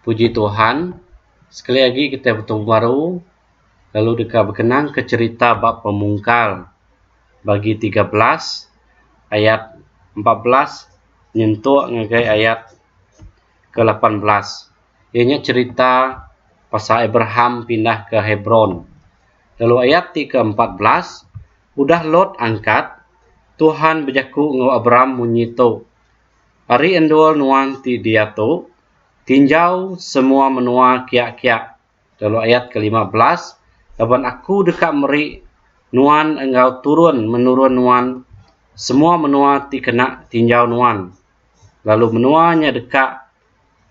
puji Tuhan sekali agi kitai betemu baru lalu deka bekenang ke cherita ba pemungkal bagi tiga belas ayat empat belas nyentuk ngagai ayat ke lapan belas iya nya cherita pasal Abraham pindah ke Hebron lalu ayat ti ke empat belas udah Lot angkat Tuhan bejaku enggau Abram munyi tu Ari endur nuan ti diatu, tinjau semua menua kiak-kiak, lalu ayat ke lima belas, laban Aku deka meri nuan enggau turun menurun nuan semua menua ti kena tinjau nuan, lalu menua nya deka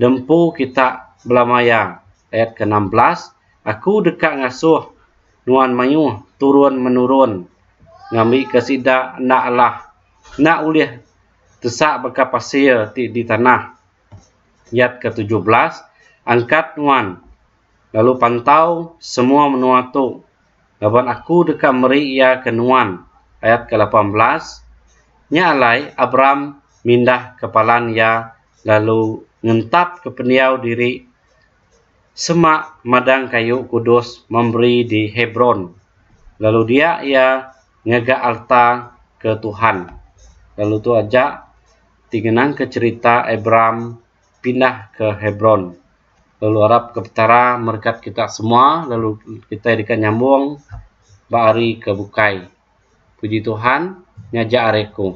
diempu Kita belama iya. Ayat ke enam belas, Aku deka ngasuh nuan mayuh turun menurun ngambika sida enda alah, enda ulih Tesak baka pasir ti di tanah. Yat ke tujuh belas, Angkat nuan, lalu pantau semua menua tu, laban Aku deka meri iya ke nuan. Ayat ke lapan belas, Nya alai, Abram mindah ke palan iya lalu ngentapka pendiau diri semak madang kayu kudus memberi di Hebron, lalu dia iya ngaga alta ke Tuhan. Lalu tu aja ti ngenangka cherita Abraham pindah ke Hebron. Lalu arap ke Petara merekat kita semua lalu kitai deka nyambung ba hari ke bukai. Puji Tuhan, ngajar ari aku.